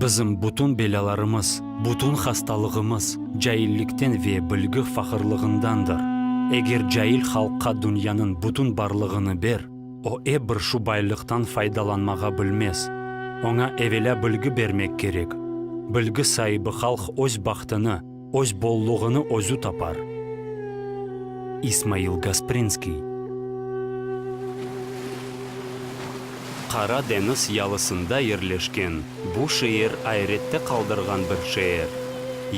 Bizim bütün belâlarımız, bütün hastalığımız caillikten ve bilgi faqırlığındandır. Eger cail halqqa dünyanıñ bütün barlığını ber, o ep bir şu baylıqtan faydalanmağa bilmez. Oña evelâ bilgi bermek kerek. Bilgi saibi halq öz bahtını. Öz bolluğını özü tapar. İsmail Gasprinskiy. Qara deñiz yalısında yerleşken bu şeer ayrette qaldırğan bir şeer.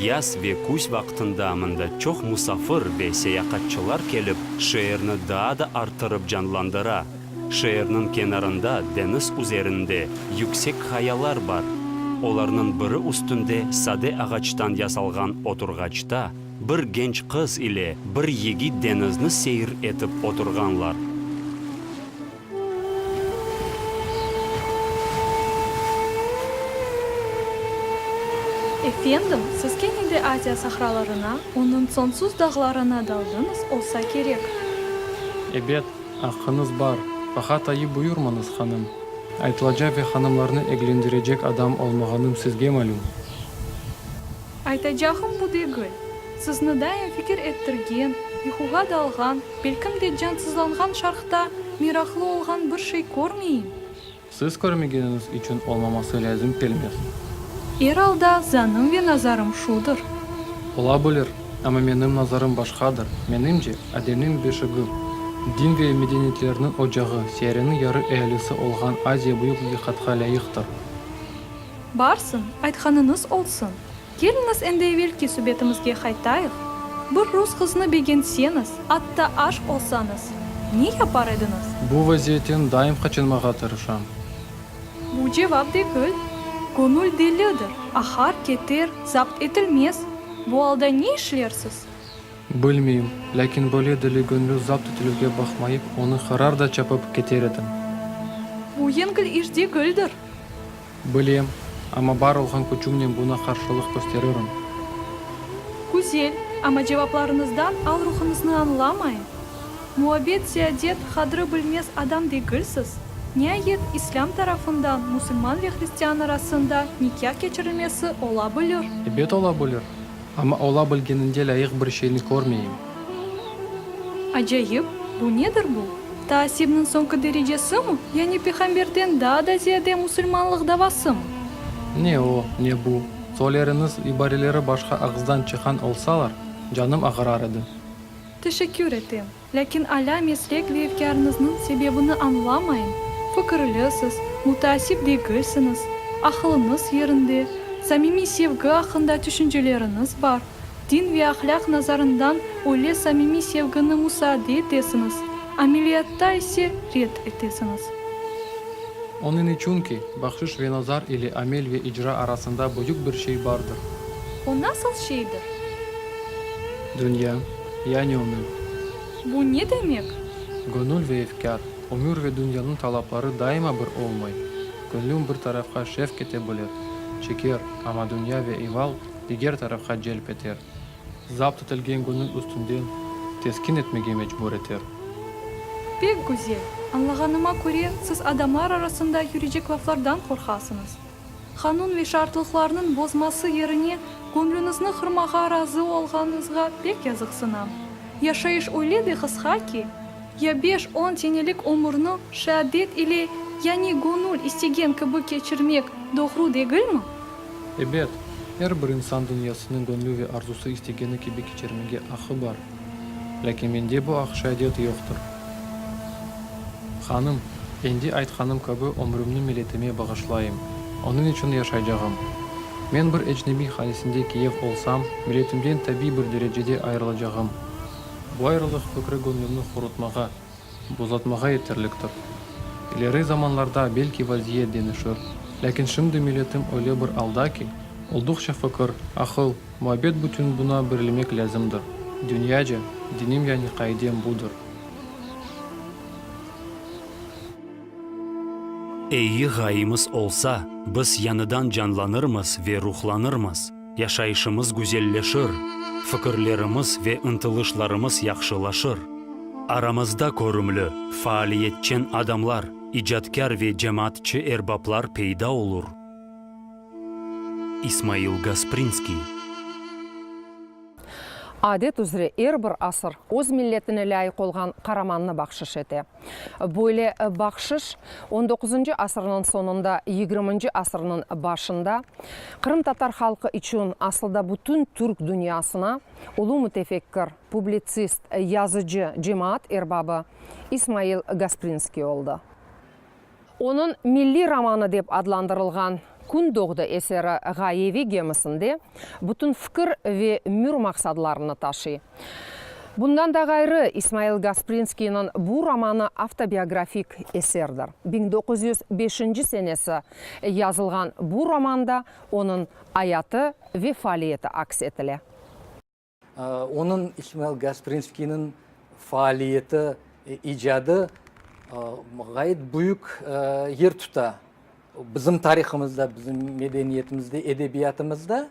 Yaz ve küz vaqtında mında çoq musafir ve seyaqatçılar kelip, şeerni daa da arttırıp canlandıra. Şeerniñ kenarında deñiz üzerinde yüksek qayalar bar. Olarnıñ biri üstünde sade ağaçtan yasalğan oturğaçta bir genç qız ile bir yigit deñizni seyir etip oturğanlar. Efendim, siz kene de Aziya sahralarına, onıñ soñsuz dağlarına daldıñız olsa kerek. Ebet, Aqqıñız bar. Baha tayı buyurmañız, hanım. Aytılaca ve hanımlarnı eglendirecek adam olmağanım sizge malüm. Aytacağım bu degil. Sizni daim fikir ettirgen, yuquğa dalğan, belkim de cansızlanğan şarqta meraqlı olğan bir şey körmeyim. Siz körmegeniñiz içün olmaması lâzim kelmez. Er alda, zanım ve nazarım şudır. Ola bilir, amma menim nazarım başqadır. Menimce, Ademniñ beşigi, din ve medeniyetlerniñ ocağı, siyareniñ yarı ealisi olğan Aziya büyük aqiqatqa lâyıqtır. Barsın, aytqanıñız olsun. Keliñiz endi evelki subetimizge qaytayıq. Bir rus qıznı begentseniz, atta aşq olsañız, ne yapar ediñiz? Bu vaziyetten daim qaçınmağa tırışam. Bu cevap degil. Köñül delidir, aqar, keter, zapt etilmez. Bu alda ne işlersiz? Bilmeyim, lâkin böyle deli göñlü zapt etilüvge baqmayıp, onı qarar da çapıp keter edim. Bu yengil iş degildir. Bilem, amma bar olğan küçümnen buña qarşılıq kösteririm. Güzel, amma cevaplarıñızdan al-ruhuñıznı añlamayım. Muabbet Ziadet qadri bilmez adam degilsiz. Niayet, islâm tarafından musulman ve hristian arasında nikâh keçirilmesi ola bilir. Ebet ola bilir. Amma ola bilgeninde lâyıq bir şeyni körmeyim. Acayip, bu nedir bu? Taassibniñ soñki derecesimi? Yani Piğamberden daa da ziyade musulmanlıq davasımı? Ne o, ne bu. Soyleriñiz ibareleri başqa ağızdan çıqan olsalar, canım ağırar edi. Teşekkür etem. Lâkin alâ mesrek ve efkârıñıznıñ sebebini añlamayım, fikirlisiz, müteasip degilsiñiz, aqılıñız yerinde, samimiy sevgi aqqında tüşünceleriñiz bar, din ve ahlâq nazarından öyle samimiy sevgini musaade etesiñiz, ameliyatta ise red etesiñiz. Onıñ içün ki, bahşış ve nazar ile amel ve icra arasında büyük bir şey bardır. O nasıl şeydir? Dünya. Yani ömür. Bu ne demek? Gönül ve efkâr. Ömür ve dünyanıñ talapları daima bir olmay. Gönlün bir tarafqa şevk ete bilir, çeker, amma dünya ve eval diger tarafqa celp eter. Zapt etilgen gönül üstünden teskin etmege mecbur eter. Pek güzel. Añlağanıma köre, siz adamlar arasında yürecek laflardan qorqasıñız. Qanun ve şartlıqlarnıñ bozması yerine köñlüñizni qırmağa razı olğanıñızğa pek yazıqsınam. Yaşayış öyle de qısqa ki, ya beş-on senelik ömürni şeadet ile, yani göñül istegen kibi keçirmek doğru degilmi? Ebet, er bir insan dünyasını göñlü ve arzusı istegeni kibi keçirmege aqqı bar. Lâkin mende bu aqşadet yoqtır. Hanım, endi aytqanım kibi ömrümni milletime bağışlayım, onıñ içün yaşaycağım. Men bir ecnebiy hanesinde kiyev olsam, milletimden tabiy bir derecede ayırılacağım. Bu ayrılıq fikri göñlümni hurutmağa. Buzatmağa yeterliktir. İleri zamanlarda belki vaziyet denişir, lâkin şimdi milletim öyle bir alda ki, olduqça fikir, aqıl, muabbet bütün buna birilmek lâzimdir. Dünyaca, dinim yani qaidem budır. Eyi ğayımız olsa, biz yañıdan canlanırmız ve ruhlanırmız. Yaşayışımız güzelleşir, fikirlerimiz ve ıntılışlarımız yahşılaşır. Aramızda körümli, faaliyetçen adamlar, icatkâr ve cemaatçı erbaplar peyda olur. İsmail Gasprinskiy. Adet üzre er bir asır öz milletine lâyıq olğan qaramannı bahşış ete. Böyle bahşış on doquzıncı asırnıñ soñunda, yigriminci asırnıñ başında qırımtatar halqı içün, asılda bütün türk dünyasına ulu mütefekkir, publitsist, yazıcı, cemaat erbabı İsmail Gasprinskiy oldı. Onıñ milliy romanı dep adlandırılğan Kün doğdı eseri ğayeviy gemisinde bütün fikir ve mür maqsadlarını taşıy. Bundan da ğayrı, İsmail Gasprinskiyniñ bu romanı avtobiografik eserdir. Biñ doquz yüz beşinci senesi yazılğan bu romanda onıñ ayatı ve faaliyeti aks etile. Onıñ, İsmail Gasprinskiyniñ, faaliyeti, icadı ğayet büyük yer tuta bizim tarihımızda, bizim medeniyetimizde, edebiyatımızda.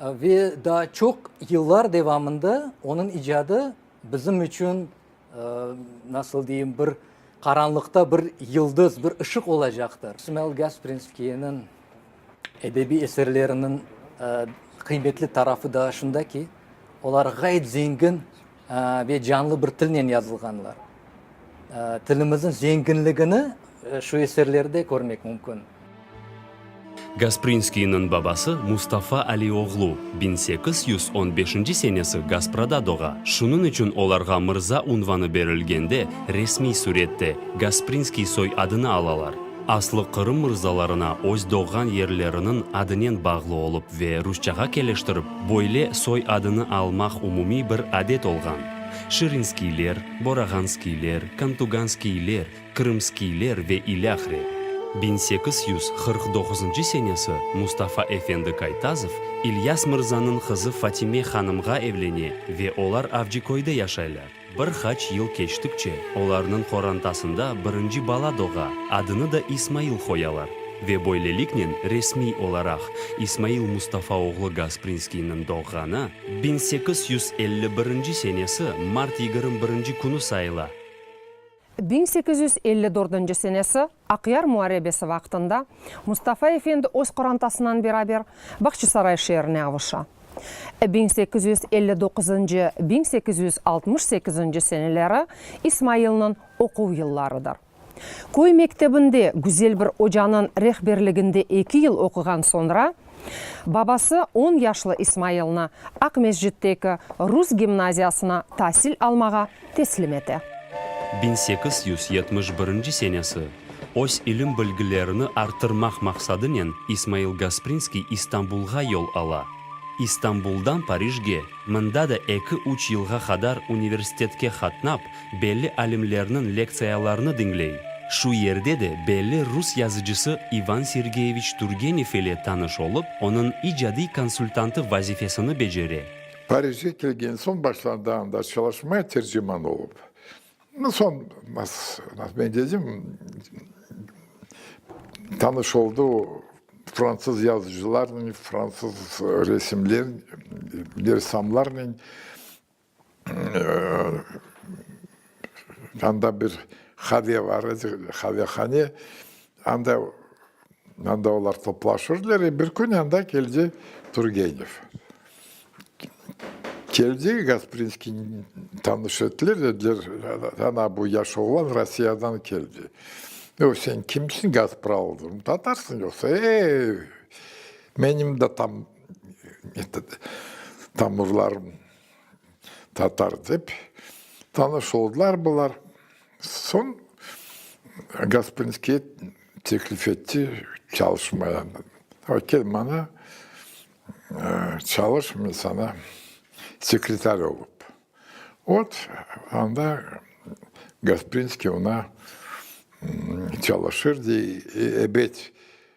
Ve daa çoq yıllar devamında onıñ icadı bizim içün, nasıl deyim, bir qaranlıqta bir yıldız, bir ışıq olacaqtır. İsmail Gasprinskiyniñ edebiy eserleriniñ qıymetli tarafı da şunda ki, olar ğayet zengin ve canlı bir tilnen yazılğanlar. Tilimizniñ zenginligini şu eserlerde körmek mümkün. Gasprinskiyniñ babası Mustafa Ali oğlu biñ sekiz yüz on beşinci senesi Gasprada doğa, şunıñ içün olarğa mırza unvanı berilgende resmiy sürette Gasprinskiy soy adını alalar. Aslı Qırım mırzalarına öz doğğan yerleriniñ adınen bağlı olıp ve rusçağa keleştirip, böyle soy adını almaq umumiy bir adet olğan. Şirinskiyler, Borağanskiyler, Kantuganskiyler, Krımskiyler ve ilâhre. Biñ sekiz yüz qırq doquzıncı senesi Mustafa efendi Kaytazov İlyas mırzanıñ qızı Fatime hanımğa evlene ve olar Avcıköyde yaşaylar. Bir qaç yıl keçtikçe, olarnıñ qorantasında birinci bala doğa, adını da İsmail qoyalar, ve böyleliknen resmiy olaraq İsmail Mustafa oğlu Gasprinskiyniñ doğğanı biñ sekiz yüz elli birinci senesi mart yigirmi birinci künü sayıla. Biñ sekiz yüz elli dördünci senesi Aqyar muarebesi vaqtında Mustafa efendi öz qorantasınan beraber Bağçasaray şeerine avuşa. Biñ sekiz yüz elli doquzıncı, biñ sekiz yüz altmış sekizinci seneleri İsmailniñ oquv yıllarıdır. Köy mektebinde güzel bir ocanıñ rehberliginde eki yıl oquğan soñra, Babası on yaşlı İsmailni Aqmescitteki rus gimnaziyasına tasil almağa teslim ete. Biñ sekiz yüz yetmiş birinci senesi, öz ilim-bilgilerini arttırmaq maqsadınen İsmail Gasprinskiy İstanbulğa yol ala. İstanbuldan Parijge, mında da eki-üç yılğa qadar universitetke qatnap, Belli alimlerniñ lektsiyalarını diñley. Şu yerde de belli rus yazıcısı İvan Sergeyeviç Turgenev ile tanış olıp, onıñ icadiy konsultantı vazifesini becere. Parijge kelgen soñ başladı anda çalışmaya terciman olıp. Soñ men dedim, tanış oldı o fransız yazıcılarnen, fransız resimler, ressamlarnen. Anda bir hale var edi, halehane. Anda, anda olar toplaşırdılar. E bir kün anda keldi Turgenev. Keldi, Gasprinskiyni tanış ettiler, dediler, ana, bu yaş oğlan Rossiyadan keldi. Yoq, sen kimsiñ, Gaspral? Dedim, tatarsıñ yoqsa? E-e, menim de tam Tamurlar tatar dep tanış oldılar bular. Soñ Gasprinskiy teklif etti çalışmaya. Kel mana, çalış, men sana sekretar olıp. Ot, anda Gasprinskiy oña çalışır dey. Ebet.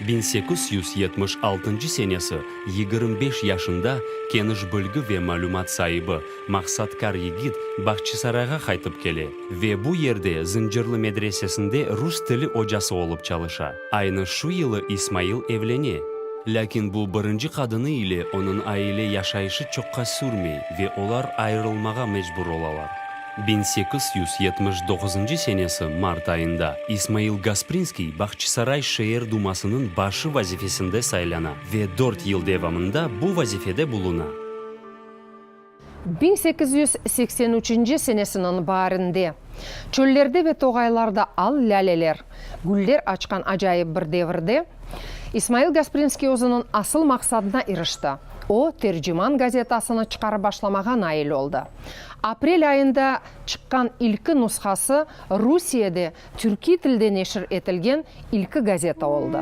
Biñ sekiz yüz yetmiş altıncı senesi yigirmi beş yaşında keniş bilgi ve malümat saibi, maqsatkar yigit Bağçasarayğa qaytıp kele ve bu yerde Zıncırlı medresesinde rus tili ocası olıp çalışa. Aynı şu yılı İsmail evlene. Lâkin bu birinci qadını ile onıñ aile yaşayışı çoqqa sürmey ve olar ayırılmağa mecbur olalar. Biñ sekiz yüz yetmiş doquzuncı senesi mart ayında İsmail Gasprinskiy Bağçasaray şeer dumasınıñ başı vazifesinde saylana ve dört yıl devamında bu vazifede buluna. Biñ sekiz yüz seksen üçünci senesiniñ baarinde, çöllerde ve toğaylarda al lâleler, güller açqan acayip bir devirde, İsmail Gasprinskiy özüniñ asıl maqsadına irişti, o, Terciman gazetasını çıqarıp başlamağa nail oldı. Aprel ayında çıqqan ilki nushası Rusiyede türkiy tilde neşir etilgen ilki gazeta oldı.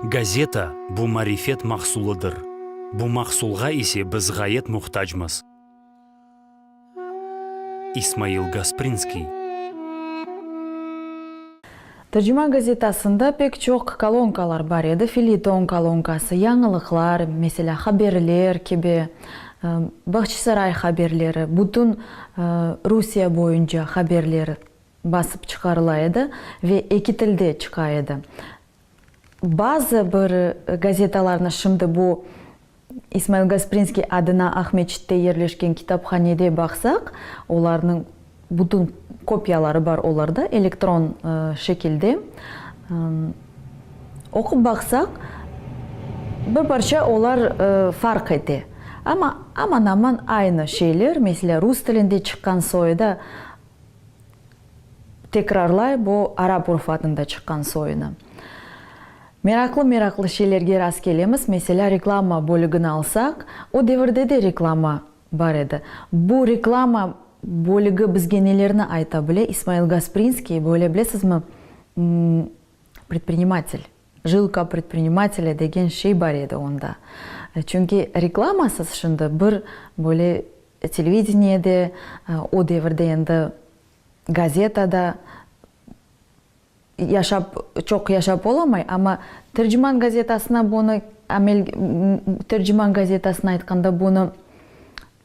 Gazeta, bu marifet mahsulıdır. Bu mahsulğa ise biz ğayet muhtacmız. İsmail Gasprinskiy. Tercima gazetasında pek çoq kolonkalar bar edi, felyeton kolonkası, yañılıqlar, meselâ, haberler kibi, Bağçasaray haberleri, bütün Rusiye boyunca haberler basıp çıqarıla edi ve eki tilde çıqa edi. Bazı bir gazetalarnı şimdi bu İsmail Gasprinskiy adına Aqmescitte yerleşken kitaphanede baqsaq, olarnıñ bütün kopiyaları bar olarda, elektron şekilde. Oqup baqsaq, bir parça olar farq ete. Amma aman-aman aynı şeyler, meselâ, rus tilinde çıqqan soyda tekrarlay bu arap urf adında çıqqan soynı. Meraqlı-meraqlı şeylerge rastkelemiz, meselâ, reklama bölügini alsaq, o devirde de reklama bar edi. Bu reklama bölügi bizge nelerni ayta bile? İsmail Gasprinskiy, böyle bilesizmi, predprinimately, jilka predprinimatelâ degen şey bar edi onda. Çünki reklamasız şimdi bir böyle televideniyede, o devirde endi gazetada, Yaşap, çoq yaşap olamay, amma Terciman gazetasına bunı amel, Terciman gazetasına aytqanda bunı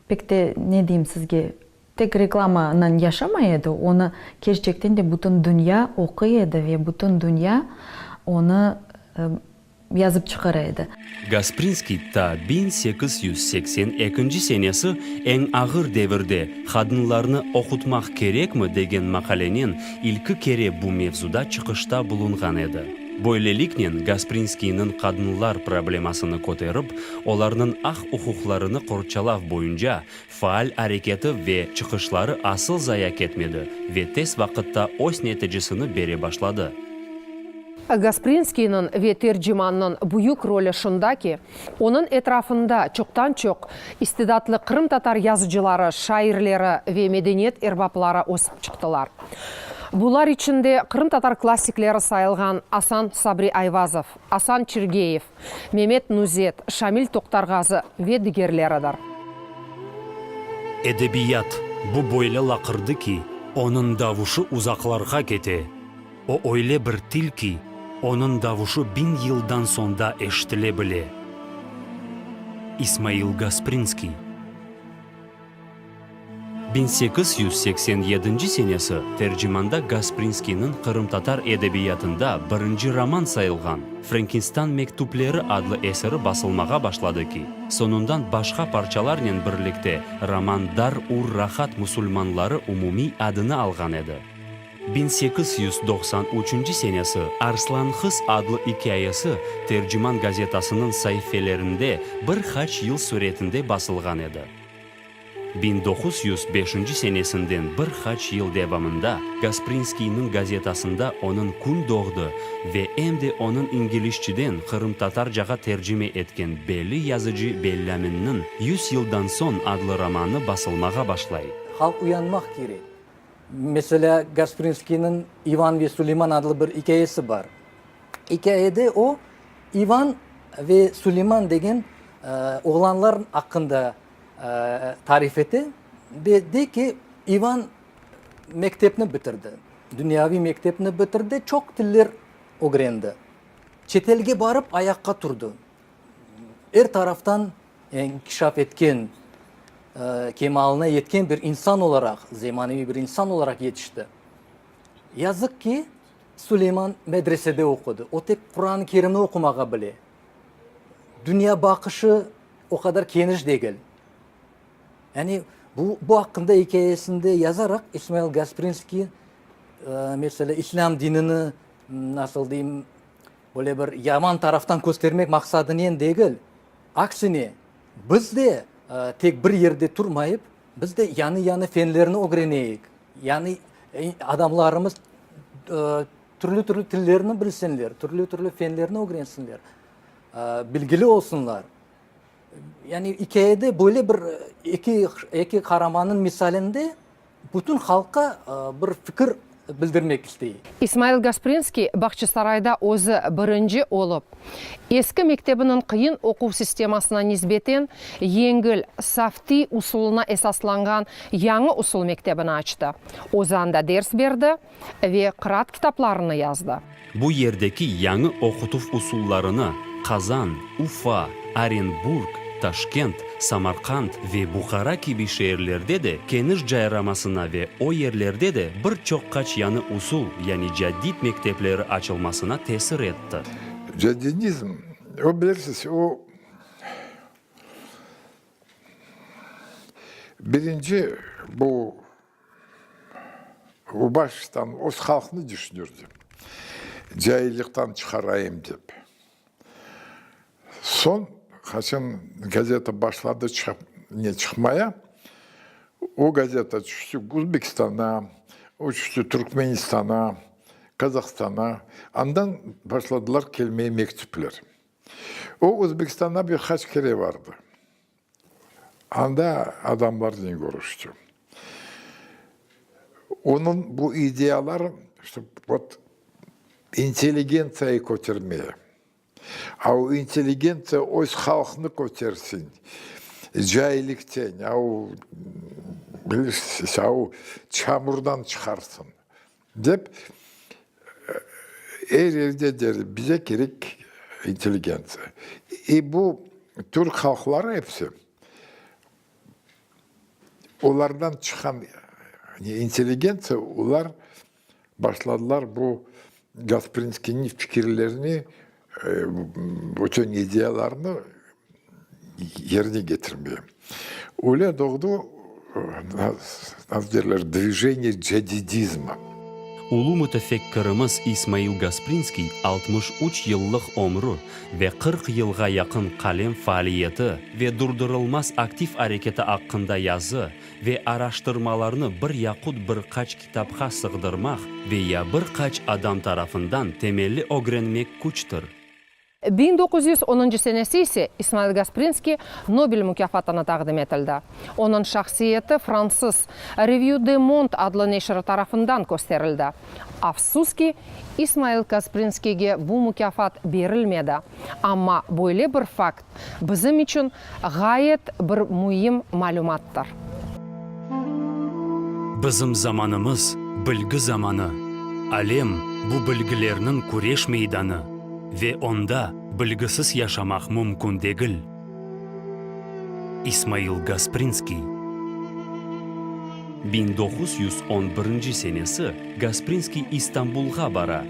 pek de, ne deyim sizge, tek reklamanen yaşamay edi, onı kerçekten de bütün dünya oquy edi ve bütün dünya onı yazıp çıqara edi. Gasprinskiy ta biñ sekiz yüz seksen ekinci senesi Eñ ağır devirde qadınlarnı oqutmaq kerekmi? degen maqalenen ilki kere bu mevzuda çıqışta bulunğan edi. Böyleliknen, Gasprinskiyniñ qadınlar problemasını köterip, olarnıñ aq-uquqlarını qorçalav boyunca Faal areketi ve çıqışları asıl zaya ketmedi ve tez vaqıtta öz neticisini bere başladı. Gasprinskiyniñ ve tercimannıñ büyük rolü şunda ki, onıñ etrafında çoqtan-çoq istidatlı qırımtatar yazıcıları, şairleri ve medeniyet erbapları ösip çıqtılar. Bular içinde qırımtatar klassikleri sayılğan Asan Sabri Ayvazov, Asan Çirgeyev, Memet Nuzet, Şamil Toqtarğazı ve digerleridir. Edebiyat, bu böyle laqırdı ki, onıñ davuşu uzaqlarğa kete, o öyle bir til ki, onıñ davuşu biñ yıldan soñ da eşitile bile. İsmail Gasprinskiy. Biñ sekiz yüz seksen yedinci senesi tercimanda Gasprinskiyniñ qırımtatar edebiyatında birinci roman sayılğan Frenkinstan mektüpleri adlı eseri basılmağa başladı ki, soñundan başqa parçalarnen birlikte roman Dar ur rahat musulmanları umumiy adını alğan edi. Biñ sekiz yüz doqsan üçünci senesi Arslan qız adlı ikâyesi Terciman gazetasınıñ saifelerinde bir haç yıl suretinde basılğan edi. Biñ doquz yüz beşinci senesinden bir qaç yıl devamında Gasprinskiyniñ gazetasında onıñ Kün doğdı ve em de onıñ ingilisçeden qırımtatarcağa tercime etken belli yazıcı Belâminniñ Yüz yıldan soñ adlı romanı basılmağa başlay. Halq uyanmaq kerek. Meselâ, Gasprinskiyniñ İvan ve Suleyman adlı bir ikâyesi bar. İkâyede o, İvan ve Suleyman degen Oğlanlar aqqında tarif ete ve dey ki, İvan mektepni bitirdi, dünyaviy mektepni bitirdi, çoq tiller ögrendi, çetelge barıp ayaqqa turdı, er taraftan inkişaf etken, kemalına yetken bir insan olaraq, zemaneviy bir insan olaraq yetişti. Yazıq ki, Suleyman medresede oqudı, o tek Quran-ı Kerimni oqumağa bile. dünya baqışı o qadar keniş degil. Yani bu, bu aqqında ikâyesinde yazaraq İsmail Gasprinskiy, meselâ, İslâm dinini, nasıl deyim, böyle bir yaman taraftan köstermek maqsadınen degil, aksine, biz de tek bir yerde turmayıp, biz de yanı-yanı fenlerni ögreneyik, yanı, adamlarımız Türlü-türlü tillerni bilsinler, türlü-türlü fenlerni ögrensinler, bilgili olsunlar. Yani ikâyede böyle bir eki qaramannıñ misalinde bütün halqqa bir fikir bildirmek istey. İsmail Gasprinskiy Bağçasarayda özü birinci olıp, eski mektebiniñ qıyın oquv sistemasına nisbeten yengil, saftiy usulına esaslanğan yañı usul mektebini açtı. Ozanda ders berdi. ve qıraat kitaplarını yazdı. Bu yerdeki yañı oqutuv usullarını Qazan, Ufa, Orenburg, Taşkent, Samarqand ve Buhara kibi şeerlerde de keniş cayramasına ve o yerlerde de bir çoq-qaç yañı usul, yani caddid mektepleri açılmasına tesir etti. Caddidizm, o, bilirsiz, o, birinci bu. Baştan öz halqnı düşünürdi. Caillikten çıqarayım dep. Soñ, qaçan gazeta başladı çıqmaya, o gazeta tüştü Özbekistana, o tüştü Türkmenistana, Qazahstana. Andan başladılar kelmeye mektüpler. O Özbekistana bir qaç kere bardı. Anda adamlarnen körüşti. Onıñ bu ideyaları, işte, vot, intelligentsiyayı kötermeye. A o intelligentsiya öz halqnı kötersin, cahillikten, a o, bilirsiz, a o çamurdan çıqarsın, Dep, er yerde derler, bize kerek intelligentsiya. E bu türk halqları episi, olardan çıqan intelligentsiya, olar başladılar bu Gasprinskiyniñ fikirlerini Bütün ideyalarnı yerine getirmeye. Öyle doğdu, nasıl derler, Dvijeniye Cadidizma. Ulu mütefekkirimiz İsmail Gasprinskiy altmış üç yıllıq ömrü ve qırq yılğa yaqın qalem faaliyeti ve durdurılmaz aktiv areketi aqqında yazı ve araştırmalarnı bir yaqut bir qaç Kitapqa sığdırmaq ve ya bir qaç adam tarafından temelli ögrenmek küçtir. Biñ doquz yüz onıncı senesi ise İsmail Gasprinskiy Nobel mukâfatına taqdim etildi. Onıñ şahsiyeti fransız Revue de monde adlı neşri tarafından kösterildi. Afsus ki, İsmail Gasprinskiyge bu mukâfat berilmedi, amma böyle bir fakt, Bizim içün ğayet bir müim malümattır. Bizim zamanımız, bilgi zamanı, alem, bu bilgilerniñ küreş meydanı ve onda bilgisiz yaşamaq mümkün degil. İsmail Gasprinskiy. Biñ doquz yüz on birinci senesi Gasprinskiy İstanbulğa bara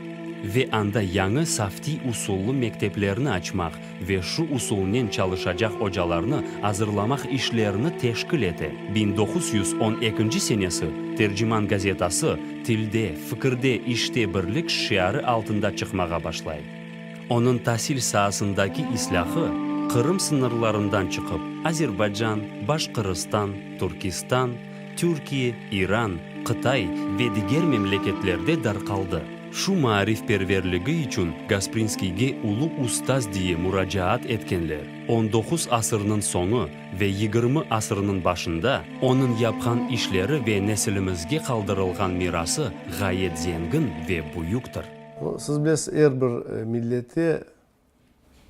ve anda yañı saftiy usullı mekteplerni açmaq ve şu usulnen çalışacaq ocalarnı azırlamaq işlerini teşkil ete. Biñ doquz yüz on ekinci senesi Terciman gazetası Tilde, fikirde, işte birlik şiarı altında çıqmağa başlay. Onıñ tasil saasındaki islâhı Qırım sıñırlarından çıqıp, Azerbaycan, Başqırıstan, Türkistan, Türkiye, İran, Qıtay ve diger memleketlerde darqaldı. Şu maarifperverligi içün Gasprinskiyge Ulu ustaz diye muracaat etkenler. On doquz asırnıñ soñu ve yigirmi asırnıñ başında onıñ yapqan işleri ve nesilimizge qaldırılğan mirası ğayet zengin ve büyüktir. Siz bilesiz, er bir millette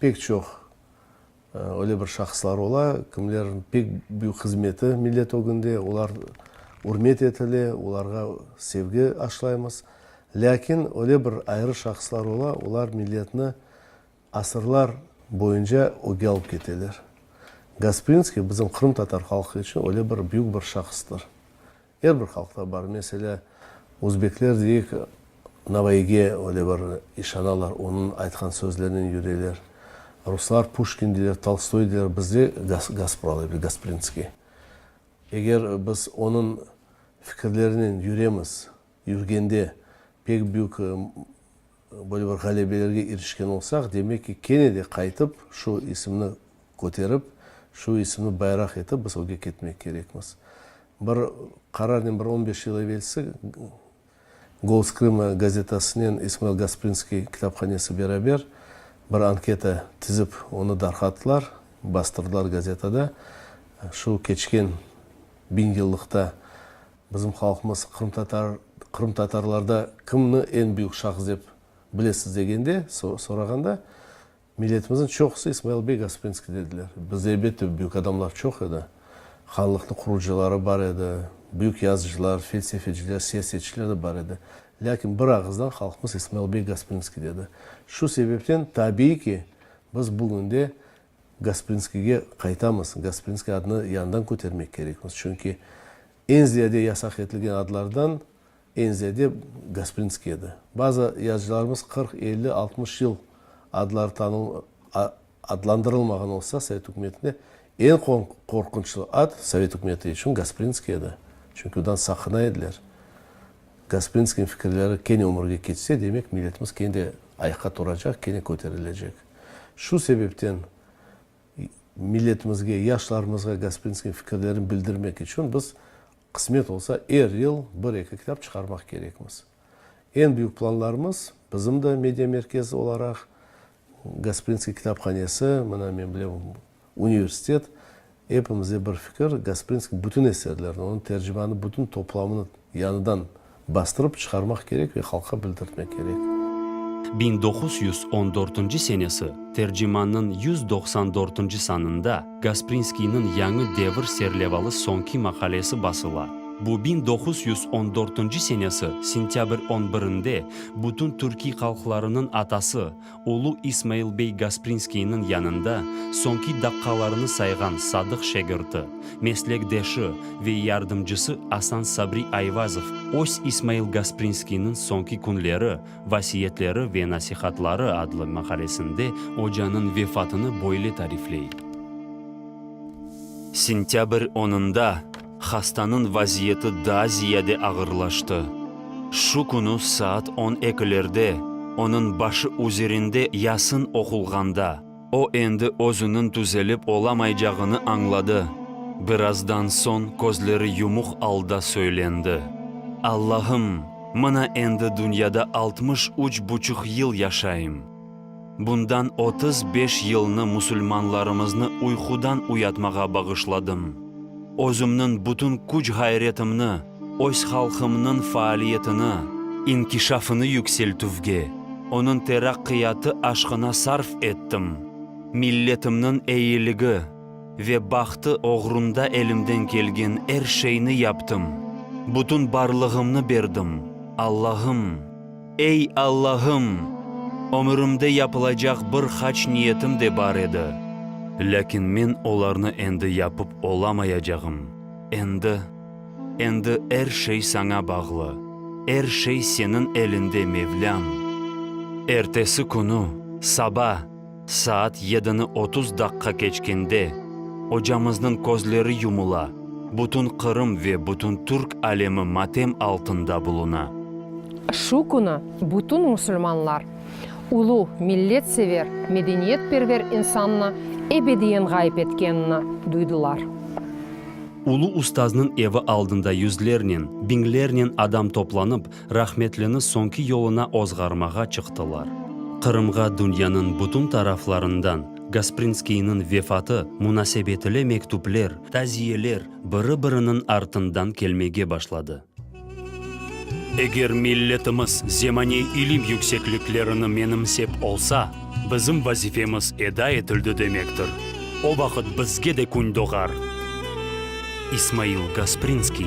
Pek çoq öyle bir şahıslar ola, kimlerniñ pek büyük hızmeti millet ögünde, olar ürmet etile, olarğa sevgi aşlaymız. Lâkin öyle bir ayrı şahıslar ola, olar milletni asırlar. Boyunca öge alıp keteler. Gasprinskiy bizim qırımtatar halqı içün öyle bir büyük bir şahıstır. Er bir halqta bar. Meselâ, özbekler deyik, Navayıge öyle bir işanalar, onıñ aytqan sözlerinen yüreler. Ruslar Puşkin deyler, Tolstoy deyler, bizde Gaspralı bir Gasprinskiy. Eger biz onıñ fikirlerinen yüremiz, yürgende pek büyük Böyle bir ğalebelerge irişken olsaq, demek ki, kene de qaytıp, şu isimni köterip, şu isimni bayraq etip biz öge ketmek kerekmiz. Bir qararnen bir on beş yıl evelsi Golos Krıma gazetasınen İsmail Gasprinskiy kitaphanesi beraber bir anketa tizip, onı darqattılar, bastırdılar gazetada. Şu keçken biñ yıllıqta Bizim halqımız qırımtatar, qırımtatarlarda kimni eñ büyük şahıs dep bilesiz degende, sorağanda, milletimizniñ çoqusı İsmail beg Osprinskiy dediler. Bizde elbette büyük adamlar çoq edi. Hanlıqnıñ qurucıları bar edi, büyük yazıcılar, felsefeciler, siyasetçiler de bar edi. Lâkin bir ağızdan halqımız İsmail beg Osprinskiy dedi. Şu sebepten tabiiy ki, biz bugün de Gasprinskiyge qaytamız. Gasprinskiy adını yañıdan kötermek kerekmiz. Çünki eñ ziyade yasaq etilgen adlardan eñ ziyade Gasprinskiy edi. Bazı yazıcılarımız qırq, elli, altmış yıl adları tanıl, a, adlandırılmağan olsa sovet ükümetinde, eñ qorqunçlı ad sovet ükümeti içün Gasprinskiy edi. Çünki ondan saqına ediler. Gasprinskiyniñ fikirleri kene ömürge keçse, demek milletimiz kene de ayaqqa turacaq, kene köterilecek. Şu sebepten milletimizge, yaşlarımızğa Gasprinskiyniñ fikirlerini bildirmek içün biz, qısmet olsa, er yıl bir-eki kitap çıqarmaq kerekmiz. Eñ büyük planlarımız, bizim de Media Merkez olaraq, Gasprinskiy kitaphanesi, mına men bilem, Universitet, epimizde bir fikir, Gasprinskniñ bütün eserlerini, onıñ tercimanı bütün toplamını yañıdan bastırıp çıqarmaq kerek ve halqqa bildirtmek kerek. Biñ doquz yüz on dörtünci senesi tercimannıñ yüz doqsan dörtünci sanında Gasprinskiyniñ Yañı devir serlevalı soñki maqalesi basıla. Bu biñ doquz yüz on dörtünci senesi sentâbr on birinde bütün türkiy halqlarınıñ atası, Ulu İsmail bey Gasprinskiyniñ yanında soñki daqqalarını sayğan sadıq şegirti, meslekdeşi ve yardımcısı Asan Sabri Ayvazov öz İsmail Gasprinskiyniñ soñki künleri, vasiyetleri ve nasihatları adlı maqalesinde ocanıñ vefatını böyle tarifley, Sentâbr onında, Hastanıñ vaziyeti daa ziyade ağırlaştı. Şu künü saat on ekilerde, onıñ başı üzerinde Yasin oqulğanda, o endi özüniñ tüzelip olamaycağını añladı. Birazdan soñ közleri yumuq alda söylendi, Allahım, mına endi dünyada altmış üç buçuq yıl yaşayım. Bundan otuz beş yılnı musulmanlarımıznı uyqudan uyatmağa bağışladım. Özümniñ bütün küç-ğayretimni öz halqımnıñ faaliyetini, inkişafını yükseltüvge, onıñ teraqqiyatı aşqına sarf ettim, milletimniñ eyiligi ve bahtı oğrunda elimden kelgen er şeyni yaptım, bütün barlığımnı berdim, Allahım! Ey Allahım! Ömürimde yapılacaq bir hac niyetim de bar edi, lâkin men olarnı endi yapıp olamayacağım. Endi, endi er şey Saña bağlı, er şey Seniñ elinde, Mevlâm! Ertesi künü, saba, Saat yedini otuz daqqa keçkende, ocamıznıñ közleri yumula, bütün Qırım ve bütün Türk alemi matem altında buluna. Şu künü bütün musulmanlar, ulu milletsever, medeniyetperver insannı ebediyen ğayıp etkenini duydılar. Ulu ustaznıñ evi aldında yüzlernen, biñlernen adam toplanıp, rahmetlini soñki yoluna ozğarmağa çıqtılar. Qırımğa dünyanıñ bütün taraflarından Gasprinskiyniñ vefatı munasebetile mektüpler, taziyeler biri-biriniñ artından kelmege başladı. Eger milletimiz zemaniy ilim yüksekliklerini menimsep olsa, bizim vazifemiz eda etildi demektir, o vaqıt bizge de kün doğar. İsmail Gasprinskiy.